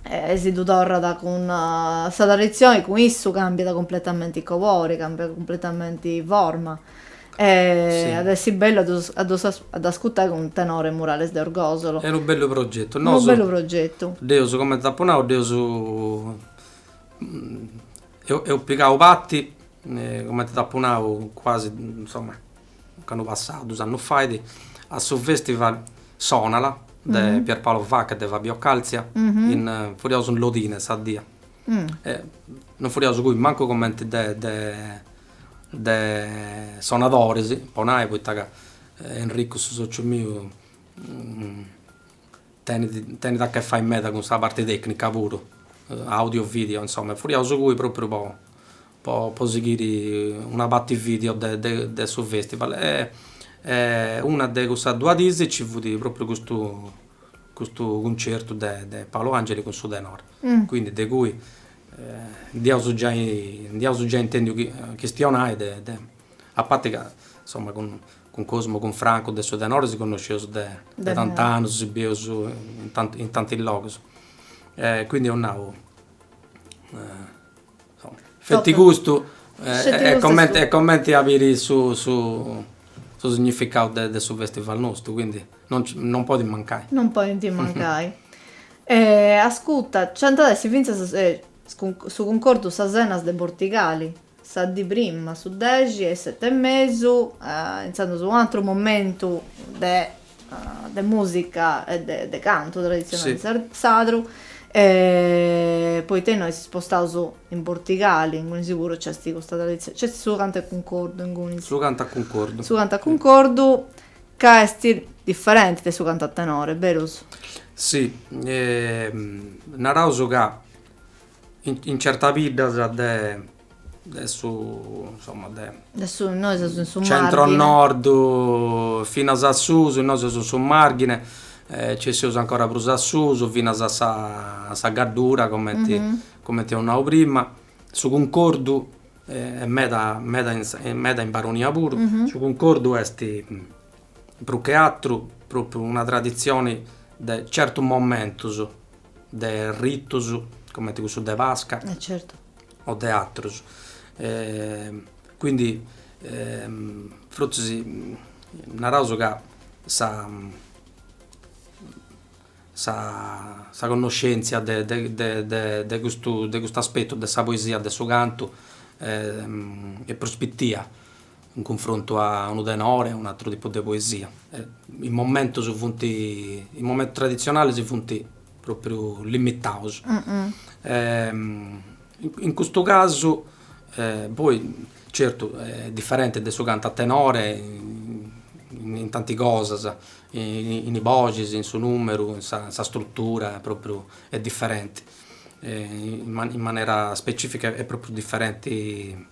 E si ddu torrat cun sa traditzioni, cun issu càmbiat cumpletamenti cobori, càmbiat cumpletamenti forma. E at essi bellu a ddus a ddus a dd'ascutai cun tenore Murales de Orgosolo. Est unu bellu progetu. Nosu. Unu bellu progetu. Dd'eus, cumenti t'apu nau, dd'eus eus pigau parti, cumenti t'apu nau, cuasi, insoma, Ocannu passau dus annus fait, a su Festival Sonala de Pierpaolo Vacca e de Fabio Calzia, furiaus in Lodine sa die. Non furiaus cui mancu comenti de sonadoris, po nai, poita ca Enricu, su sociu miu, tenit, tenit a che fai meda cun sa parti tecnica puru, audio, video, insoma, e furiaus cui propriu po po sighiri una parti video de su festival e una de cussas duas diis nci fut propriu custu custu cuncertu de Paolo Angeli cun su tenore, quindi de cui nd'iaus giai nd'iaus giai intendiu chistionai de de a parti ca insoma cun cun Cosmu cun Francu de su tenore si connosceus de de tant'annus si bieus in tanti logus e quindi eus nau Feti custu est comente comente a biri su su su significau de de su festival nostu, quindi non non podit mancai. Non podint mancai. E ascuta, nc'ant a essi fintzas su cuncordu sas Enas de Bortigali, sa dì prima, su dexi a is sete e mesu, intzandus un'ateru momentu de de musica e de cantu traditzionali sardu, poita innoi si spostaus in Bortigali, ingunis puru nc'est custa traditzioni, nc'est su cantu a cuncordu inguni. Su cantu a cuncordu. Su cantu a cuncordu ca est diferenti de su cantu a tenori, berus? Si, naraus ca in certas biddas de de su insomma de de su nois seus in su centro nord finas a susu innoi seus in su marghine e ci seus ancora prus a susu finas a sa a sa gaddura comenti comenti eus nau prima su cuncordu est meda meda in meda in baronia puru su cuncordu est prus che atteru propriu una traditzioni de certus momentus de ritus comenti cussu de pasca e certu o de atrus e quindi fortzis naraus ca sa sa connoscenzia de de custu de custu aspettu de sa poesia de su cantu est prus pitia in cunfrontu a unu tenore, a un'atru tipu de poesia. Is momentus funt, is momentus traditzionalis funt pròpriu limitaus. In custu casu, poi, certu, est diferenti de su cantu a tenore in tanti cosas, in is boxis, in su nùmeru, in sa strutura, pròpriu est diferenti, in manera specifica est pròpriu diferenti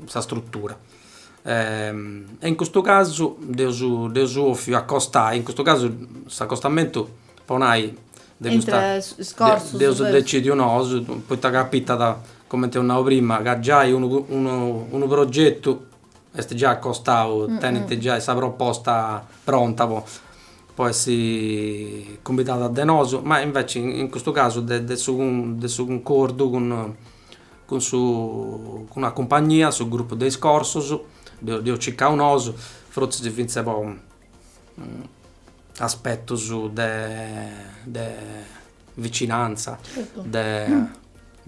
sa strutura e in custu casu dd'eus dd'eus ofiu costruiri, in custu casu s'acostamentu po nai de custa dd'eus decidiu nosu poita capitat, comente eus nau prima, ca giai unu unu unu progetu est giai acostau, tenint giai sa proposta pronta po po essi cumbidada de nosu, ma inveci in custu casu de de su de su cuncordu cun Cun su cun una cumpagnia, su grupu de is corsus, dd'eus circau nosu, fortzis fintzas po aspetus de de vicinantza, de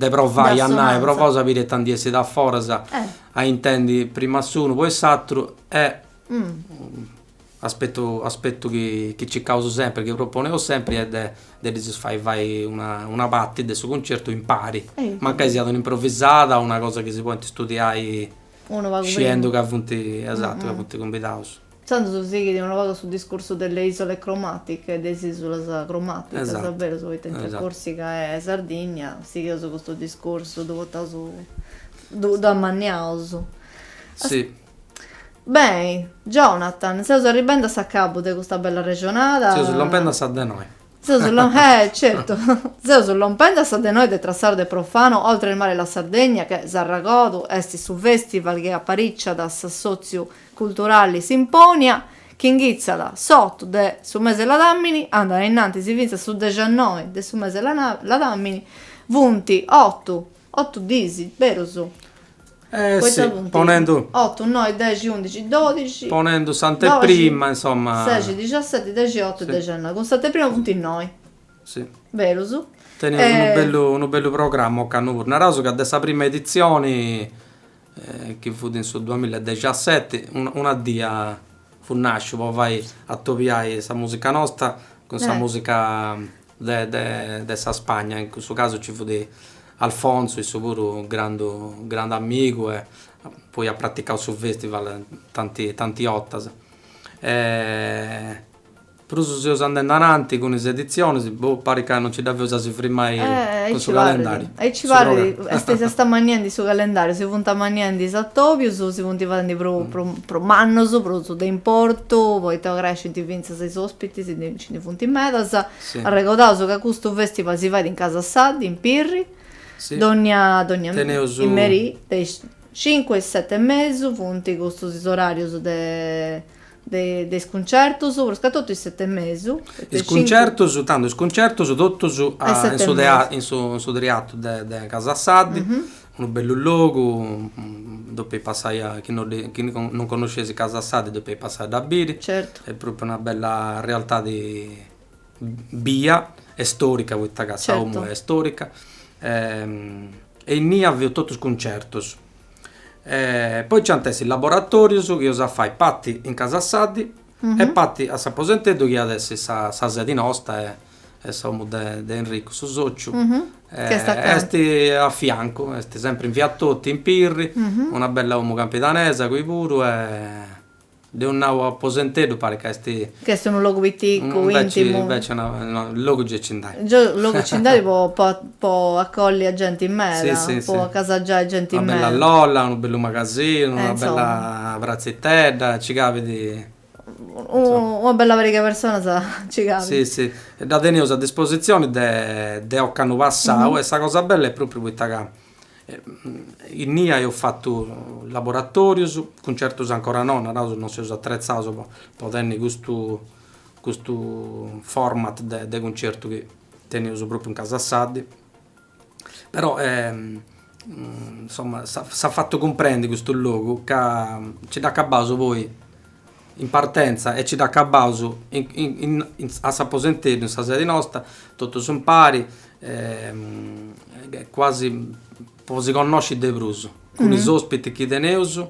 de provai a nai, provaus a biri itanti essit a foras, a intendi prima a s'unu poi s'atru e Aspetu aspetu chi chi circaus sempri, chi proponeus sempri est de de ddis fai fai una una parti de su cuncertu impari, mancai siat un'improvisada o una cosa chi si podint studiai Unu pagu prima sciendu ca funt, esatu, ca funt cumbidaus. Intzandus sighit unu pagu su discursu de le isole cromatiche, de is isulas cromaticas, Esatu, esatu, berus, poita intre Corsica e Sardinnia sighius custu discursu, ddu portaus ddu ddu amanniaus. Si Beni, Jonathan, seus arribendi a s'acabu de custa bella arrexonada. Seus lompendi a sa de noi. Seus lo- eh, certu! Seus lompendi a sa de noi de Tra Sardo e Profano oltre il mare la Sardegna che, s'arragodu, est su festival chi apariciat s'assotziu culturali Symponia, chi inghitzat s'otu de su mese de Ladamini, andat ainnantis fintzas a su dexannoi de su mese de Ladamini, funt otu Otu diis, berus? Poita funt. Ponendu. Otu, noi, dexi, undixi, dodixi. Ponendu s'anteprima, insoma. Seixi, dixaseti, dexiotu e dexinoi. Cun s'anteprima funt noi. Si. Berus? Teneus unu bellu programma ocannu puru. Naraus ca de sa prima editzioni, chi fut in su duamilla e dexaseti, una dì fut nasciu po fai atobiai sa música nosta cun sa música. de sa Spagna, in cussu casu ci fut Alfonso, issu puru grandu grandu amigu e poi at praticau su festival tantis tantis bortas e prus seus andendi ananti cun is editzionis, boh, parit ca non ci dda feus a si frimmai cun su calendariu. E aici parit, est si est amanniendi su calendariu, si funt amanniendi is atobius, si funt fadendi prus prus mannus, prus de importu, poita crescint fintzas is ospitis Nci funt medas. Arregodaus ca custu fèstival si fait in Casa Saddi, in Pirri, dònnia merì de is cincu a is seti e mesu. Funt custus is oràrius de is cuncertus, pruscatotu is seti e mesu. Is cuncertus, tandu is cuncertus totus in su triatu de Casa Saddi. Unu bellu logu, ddoi passai a, chi no dde, chi non connosceis Casa Saddi ddoi passai a dda biri. Certu. Est propriu una bella realtadi bia e storica poita ca sa omu est storica e innia feus totu is cuncertus. Poi nci ant essi is laboratorius chi eus a fai parti in Casa Saddi e parti a s'aposenteddu chi iat essi sa sedi nosta e e s'omu de de Enricu su sociu est a fiancu est sempri in via Toti in Pirri una bella omu campidanesa cui puru deu nau aposenteddu parit ca est ca est unu logu piticu intimu inveci inveci logu gei ci nd'at gei logu ci nd'at po acolli a genti meda po acasagiai genti meda una bella lolla unu bellu magasinu una bella pratzitedda ci cabit Una bella pariga 'e personas nci cabint. Si si, e dda teneus a dispositzioni de de ocannu passau e sa cosa bella est pròpriu poita ca innia eus fatu laboratorius, cuncertus ancora no, naraus non seus atretzaus po tenni custu custu format de de cuncertu chi teneus pròpriu in Casa Saddi Però insomma s'at fatu cumprendi custu logu ca nci dd'acabaus poi in partenza e nci dd'acabaus a s'aposenteddu in sa sedi nosta, totus impari quasi po si connosci de prus cun is ospiti chi teneus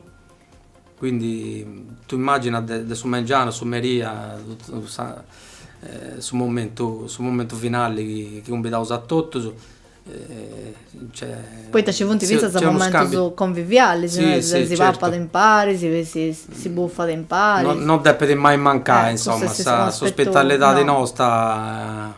Quindi tu immagina de su mengianu, su merì, a su momentu finali chi cumbidaus a totus. Poita ci funt fintzas momentus convivialis, si papat impari, si bufat impari. No depit mai mancai, insoma, s'ospitalidadi nosta.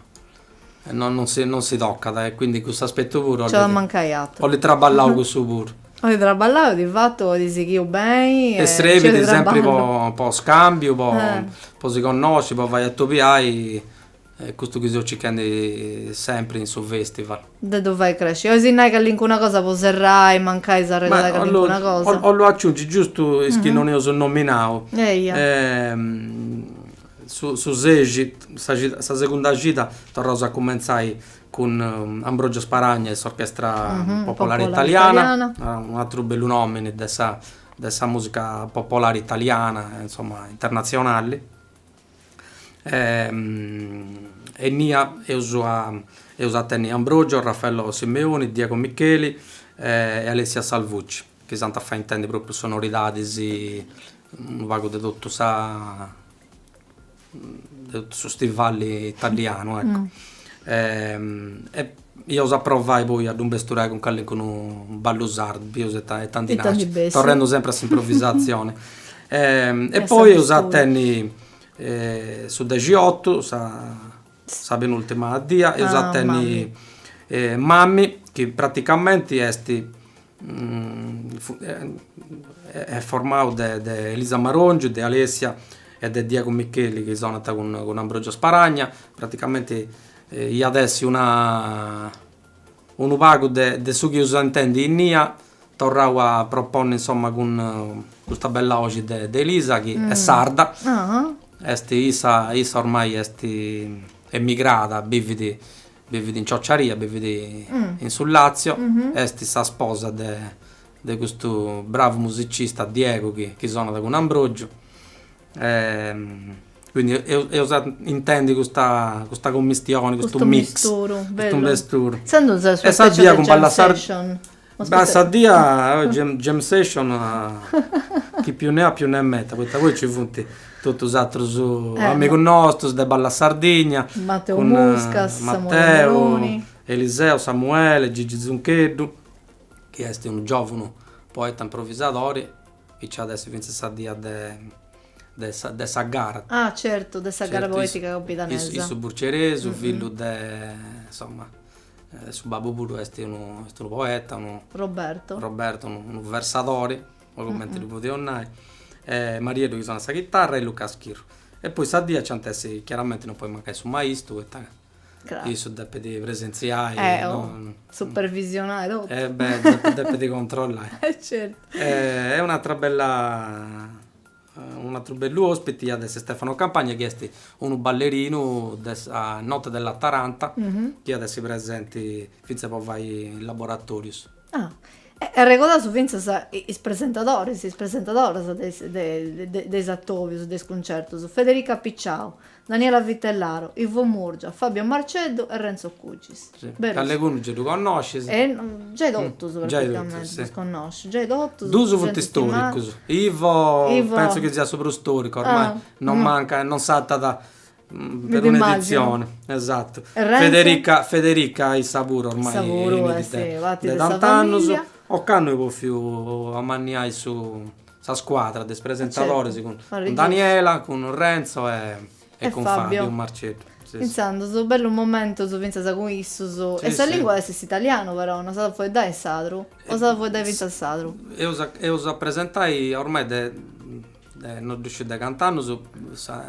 Non si tocat e quindi custu aspettu puru. Nc'at a mancai aturu. Oli traballau cussu puru. Oli traballau, di fatu oli sighiu beni e. E srebit sempri po scambiu, po si connosci, po fai atobiai est custu chi seu circhendi sempri in su festival. De ddu fai cresci. Olis nai callincuna cosa po serrai, mancai s'arregodu de callincuna cosa. Ollu aciungi giustu is chi non eus nominau. Eia. Su ses, sa segunda cida, torraus a cumentzai cun Ambrogio Sparagna e s'Orchestra Popolare Italiana, un'atru bellu nomini de sa de sa musica popolare italiana e insomma internazionali. E innia eus a eus a tenni Ambrogio, Raffaello Simeoni, Diego Micheli e Alessia Salvucci. chi s'ant a fai intendi pròpriu sonoridades, unu pagu de totu sa de totu su stivali italianu, ecco. E eus a provai poi a ddu ammesturai cun calincunu ballu sardu, pius e e tandi naci, torrendu sempri a s'improvisazioni. E poi eus a tenni su dexiotu, sa Sa penultima dia eus a tenni Mami chi praticamenti est est formau de de Elisa Marongiu, de Alessia e de Diego Micheli chi sonant cun Ambrogio Sparagna, praticamenti at essi una Unu pagu de de su chi eus intèndiu innia, torrau a proponni insomma cun custa bella boxi de de Elisa chi est sarda, est issa issa ormai est emigrada, bividi bividi in Ciociaria, bividi in su Latzio, est sa sposa de de custu bravu musicista Diego chi sonat cun Ambrogiu Quindi eus a intendi custa custa commistioni, custu mix. Custu misturu, bellu. Custu misturu. Intzandus sa dii speciali de jam session. Beh, sa dia jam session chi più ne ha più ne metta, poita poi nci funt totus is atrus amigus nostus de Balla Sardigna. Mateu Muscas, Samuele Meloni. Mateu, Eliseu, Samuele, Gigi Zuncheddu, chi est unu giòvunu poeta improvisadori chi ci at essi fintzas sa die de de sa de sa gara. Ah certu, de sa gara poetica campidanesa. Est issu burceresu, fillu de insomma su babbu puru esti unu est unu poeta, unu Roberto. Roberto, unu unu versadori, po cumenti ddu podeus nai, e Marieddu chi sonat sa chitarra e Luca Schirru. E poi sa die nc'ant essi, chiaramenti non podit mancai su maistu poita Craru. Issu depit presentziai. Eh oh. No... Supervisionai totu. Eh beh, depit, depit controllai. Eh certu. E, e un'atra bella unu atru bellu ospiti at essi Stefano Campagna chi est unu ballerinu de sa Notte della Taranta chi at essi presenti fintzas po fai is laboratorius. Ah. E arregodaus fintzas is presentadoris, is presentadoras de is de de is atobius, de is cuncertus, Federica Picciau, Daniela Vitellaro, Ivo Murgia, Fabio Marceddu e Renzo Cugis. Si, calincunu giai ddu connoscis. E giai totus praticamenti ddus connosciu, giai totus. Duus funt storicus, Ivo pentzu chi siat su prus storicu, ormai non mancat, non sartat perun'edizioni. Esatu. E Renzo? Federica, Federica issa puru ormai. Issa puru est, fait sa familia. De tant'annus, ocannu eus bòfiu amanniai su Sa scuadra de is presentadoris cun Daniela, cun Renzo e cun Fabio Marceddu. Intzandus, bellus momentus fintzas cun issus. E sa lingua est s'italianu però, non s'at a fueddai in sardu? O s'at a fueddai fintzas sardu? Eus a presentai, ormai de non ddu sciu de cant'annus,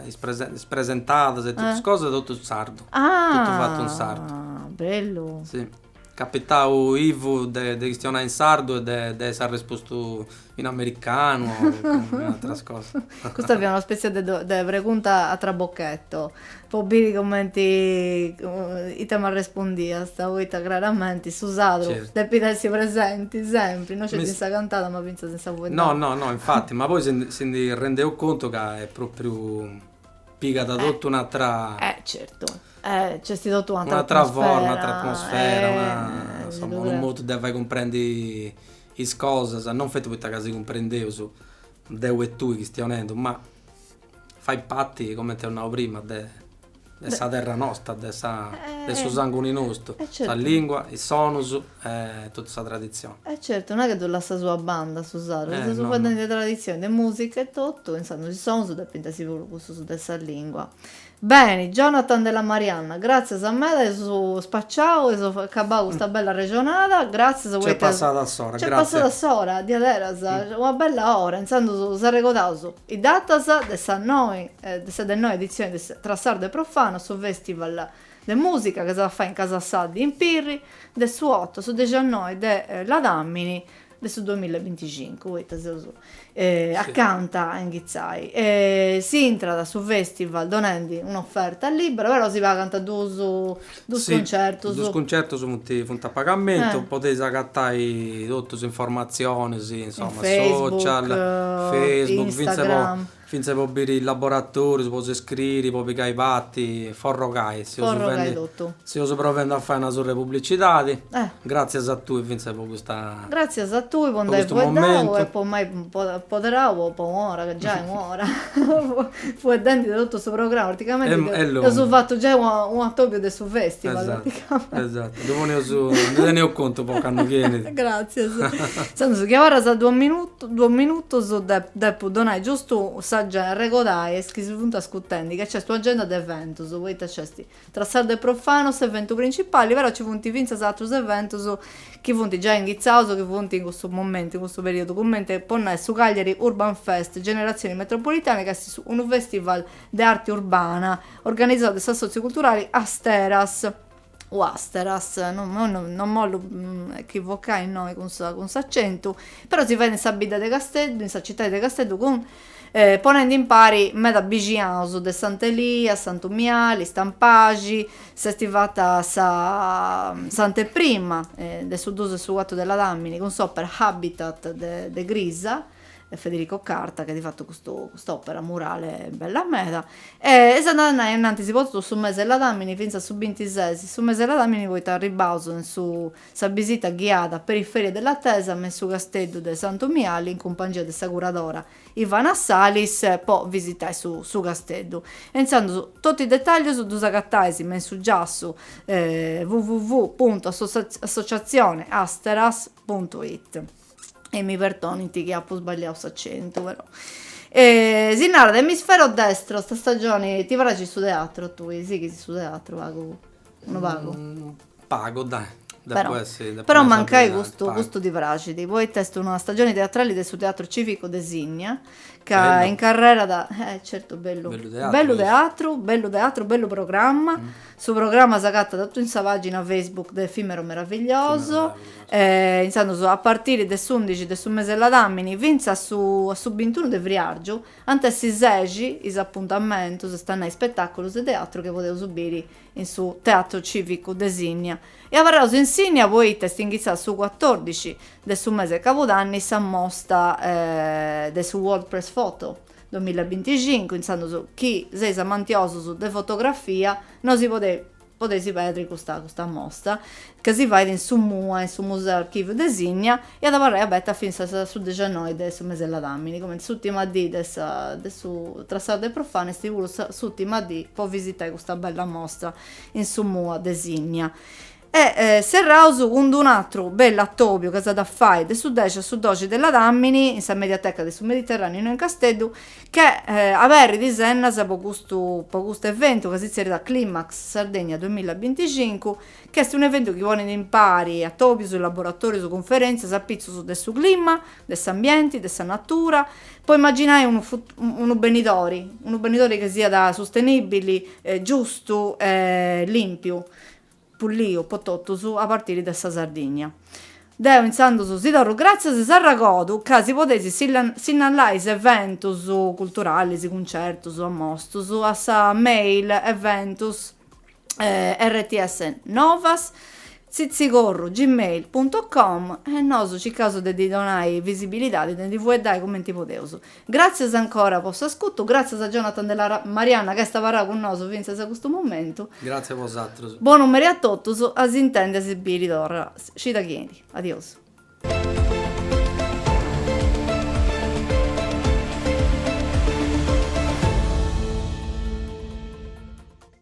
is presentadas e totus is cosas totu in sardu. Ah! Totu fatu in sardu. Bellu! Si. Capitau invècias de de chistionai in sardu e de de essi arrespostu in americanu o in atras cosas. Custa fiat una spètzia de de pregunta a trabocchetto, po biri cumenti ita m'arrespondiast, poita craramenti su sardu depit essi presenti sempri, no sceti in sa cantada ma fintzas in sa fueddada. No no no infati, ma poi si si ndi rendeus contu ca est pròpriu pigat totu un'atra e certu nc'est totu un'atra forma, un'atra atmosfera insomma unu modu de fai cumprendi is cosas non feti poita ca si cumprendeus deu e tui chistionendu ma fait parti comente eus nau prima de sa terra nosta de sa de su sanguni nostu sa lingua is sonus E totu sa traditzioni. E certu, no est chi ddu lassas a banda su sardu, si seus fueddendi de traditzioni, de musica e totu, intzandus is sonus depint essi puru cussus de sa lingua. Beni, Jonathan Della Marianna, gratzias meda, eus spaciau, eus acabau custa bella arrexonada, gratzias poita. Nc'est passada s'ora, gratzias. Nc'est passada s'ora, diaderas, una bella ora, intzandus arregodaus is datas de sa noe, de sa de noe editzionis de Tra sardo e profano, su festival. de mùsica ca s'at a fai in Casa Saddi in Pirri de su otu a su dexannoe de ladàmini de su duamilla e binticincu, poita seus acanta a inghitzai. Si intrat a su festival donendi un'oferta libera, però si pagant duus duus concertus. Si, duus concertus funt funt a pagamentu, podeis agatai totus is informatzionis, insoma, social, Facebook, Instagram, Fintzas po biri is laboratòrius, po s'iscriri, po pigai parti, forrogai. Forrogai totu. Si, seus provendi a fai una surr'e publicidadi. Eh. Gràtzias a tui fintzas po custa. Gràtzias a tui po nd'ai fueddau e po m'ai apoderau po po un'ora, ca giai un'ora fueddendi totu su programma, praticamenti eus fatu giai un'atobiu de su festival. Esatto, ddu poneus, ndi teneus contu po candu benit. Gratzias. Intzandus chi abarrant duos minutus, duos minutus depu donai giustu s'agen, arregodai a is chi si funt ascutendi ca nc'est un'agenda de eventus, poita nc'est Tra sardo e profano s'eventu principali, però nci funt fintzas atrus eventus chi funt giai inghitzaus, chi funt in cussu momentu, in cussu periudu, cumenti po nai su Cagliari Urban Fest Generazioni Metropolitane ca est unu festival de arte urbana organizada de s'assòtziu culturali Asteras, o Asteras, no no no non m'ollu echivochai innoi cun sa cun s'acentu, però si fait in sa bidda de Casteddu, in sa citadi de Casteddu cun ponendi impari meda bixiaus de Sant'Elia, Santu Miali, Stampaxi, s'est fata sa s'anteprima de su dus a su cuatru de Ladàmini cun s'opera Habitat de de Crisa, e Federico Carta chi at fatu custu cust'opera murale bella meda e est andada a innantis po totu su mese 'e Ladamini finzas su bintises su mese 'e Ladamini poita arribbaus in sa bisita ghiada Periferie dell'Attesa in su Casteddu de Santu Miali in cumpangia de sa curadora Ivana Salis po visitai su su Casteddu intzandus totu is detaglius ddus agatais in su giassu www puntu associazione asteras puntu it. e mi perdonint chi apu sbagliau s'acentu però e si narat emisfero destro sa stagioni ti praxit su teatru a tui sighis su teatru pagu unu pagu pagu dai però però mancai custu custu ti praxit poita est una stagioni teatrali de su teatru civicu de Sinnia ca incarrerat eh certu bellu bellu teatru bellu teatru bellu programma su programma s'agatat totu in sa pagina Facebook de Effimero Meraviglioso e inzandus a partiri de s'undixi de su mese 'e ladamini finzas a su a su bintunu de friargiu ant a essi sexi is apuntamentus est a nai ispetaculus de teatru chi podeus biri in su Teatro Civicu de Sinnia, e abarraus in Sinnia poita est inghitzada su cuatòrdixi de su mese 'e cabudanni sa mosta de su World Press Photo duamilla e binticincu, intzandus chi seis amantiosus de fotografia no si podeis perdiri custa mosta, ca si fait in su mua, in su Museu Archiviu de Sinnia, e at a abarrai aberta fintzas a su dexannoi de su mes'e ladamini, cumenti s'ùtima dì de sa de su Trassau de Profana est puru sa s'ùtima dì po visitai custa bella mostra in su mua de Sinnia. E serraus cun d' un'atru bellu atobiu ca s'at a fai de su dexi a su doxi de ladamini in sa Mediateca de su Mediterraneu innoi in Casteddu, chi aberit is ennas po custu po custu eventu ca si tzerriat Climax Sardegna duamilla e binticincu, Ch'est un'eventu chi ponet impari atòbios, laboratòrios, cunferèntzias apitzus de su clima, de s'ambienti, de sa natura, po imaginai unu unu benidori, unu benidori chi siat sustenìbili, giustu e lìmpiu, pulliu po totus, a partiri de sa Sardigna. Deo intzandus si torru gràtzias e s'arregordu ca si podeis sinnallai is eventus culturalis, cuncertus, ammostus, a sa mail eventus. eh, rts novas tzitzigorru gmail punto com e nosu circaus de ddi donai visibilidadi de ndi fueddai cumenti podeus gratzias ancora po s'ascutu gratzias a Jonathan della Marianna ca est abarrau cun nosu fintzas a custu momentu gratzias a bosatrus bonu meri a totus a s'intendi a si biri torra cida chi benit adiosu.